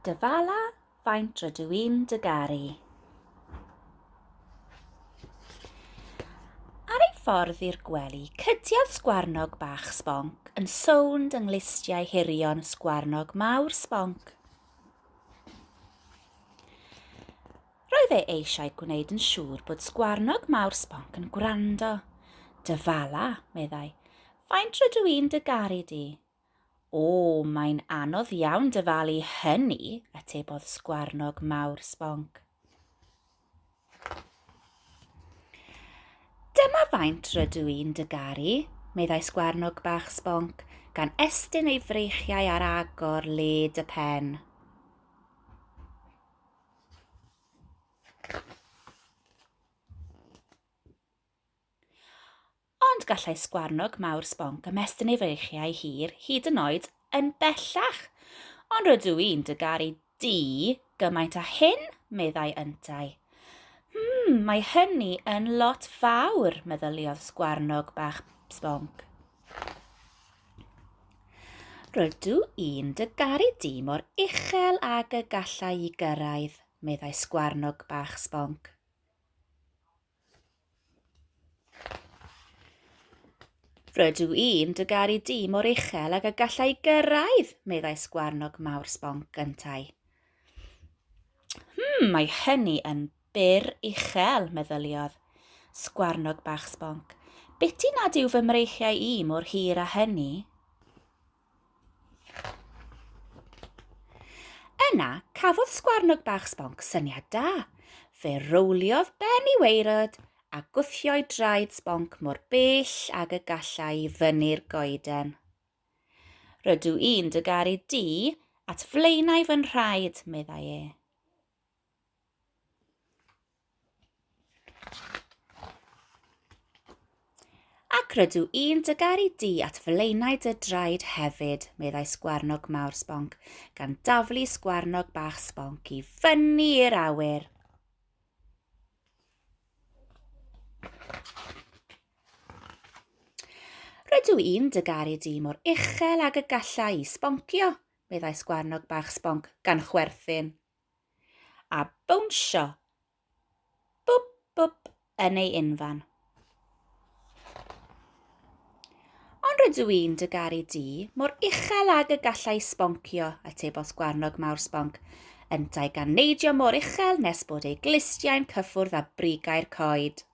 Dyfala faint rydw i'n dy garu. Ar ei ffordd i'r gwely, cydiodd sgwarnog bach sbonc yn sownd yng nglustiau hirion sgwarnog mawr sbonc. Roedd e eisiau gwneud yn siŵr bod sgwarnog mawr sbonc yn gwrando. Dyfala, meddai, faint rydw i'n dy garu di. O, mae'n anodd iawn dyfalu hynny, atebodd sgwarnog mawr sbonc. Dyma faint rydw i'n dygaru, meddai sgwarnog bach sbonc, gan estyn ei freichiau ar agor led y pen. Ond gallai sgwarnog mawr sbonc ymestyn ei freichiau hir hyd yn oed yn bellach. Ond rydw i'n dy garu di gymaint â hyn, meddai yntau. Hmm, mae hynny yn lot fawr, meddyliodd sgwarnog bach sbonc. Rydw i'n dy garu di mor uchel ag y gallai i gyrraedd, meddai sgwarnog bach sbonc. Rydw i'n dy garu di mor uchel ag y gallai gyrraedd, meddai sgwarnog mawr sbonc gyntau. Hmm, mae hynny yn byr uchel, meddyliodd. Sgwarnog bach sbonc. Beti nad yw fy mreichiau i mor hir a hynny. Yna, cafodd sgwarnog bach sbonc syniad da. Fe rowliodd ben i weirod a gwthio'i draed sbonc mor bell ag y gallai i fyny'r goeden. Rydw i'n dy garu di at flaenau fy nhraed, meddai e. Ac rydw i'n dy garu di at flaenau dy draed hefyd, meddai sgwarnog mawr sbonc, gan daflu sgwarnog bach sbonc i fyny i'r awyr. Rydw i'n dy garu di mor uchel ag y gallai i sboncio, meddai sgwarnog bach sbonc gan chwerthin. a bownsio bwp bwp yn ei unfan. Ond rydw i'n dy garu di mor uchel ag y gallai sboncio, y tebos gwarnog mawr sbonc, yntau gan neidio mor uchel nes bod ei glustiau'n cyffwrdd â brigau'r coed.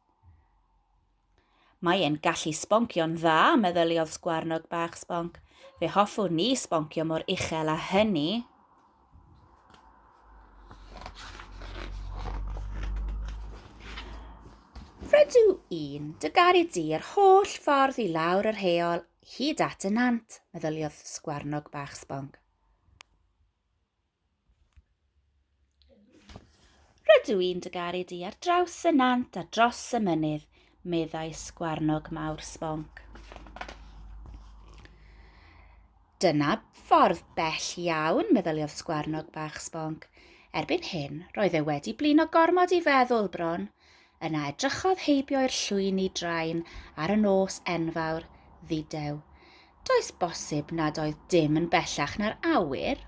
Mae e'n gallu sboncio'n dda, meddyliodd sgwarnog bach sbonc. Fe hoffwn ni sboncio mor uchel a hynny. Rydw i'n dy garu di yr holl ffordd i lawr yr heol hyd at y nant, meddyliodd sgwarnog bach sbonc. Rydw i'n dy garu di ar draws y nant a dros y mynydd, meddai sgwarnog mawr sbonc. Dyna ffordd bell iawn, meddyliodd sgwarnog bach sbonc. Erbyn hyn, roedd e wedi blino gormod i feddwl bron. Yna edrychodd heibio i'r llwyni drain ar y nos enfawr, ddidew. Does bosib nad oedd dim yn bellach na'r awyr?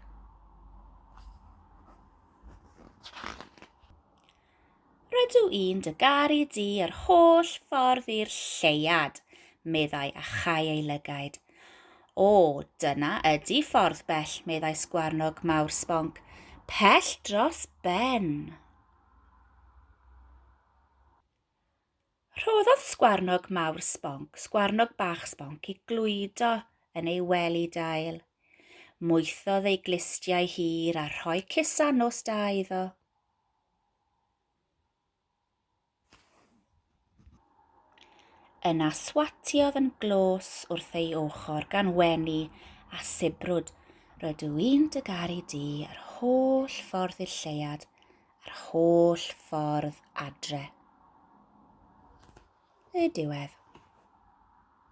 Rydw i'n dy garu di yr holl ffordd i'r lleuad, meddai a chau ei lygaid. O, dyna ydi ffordd bell, meddai sgwarnog mawr sbonc. Pell dros ben! Rhoddodd sgwarnog mawr sbonc sgwarnog bach sbonc i glwydo yn ei wely dail. Moethodd ei glustiau hir a rhoi cisa nos da iddo. Yna swatiodd yn glos wrth ei ochr gan wenu a sibrwd, Rydw i'n dy garu di yr holl ffordd i'r lleuad a'r holl ffordd adre. Y diwedd.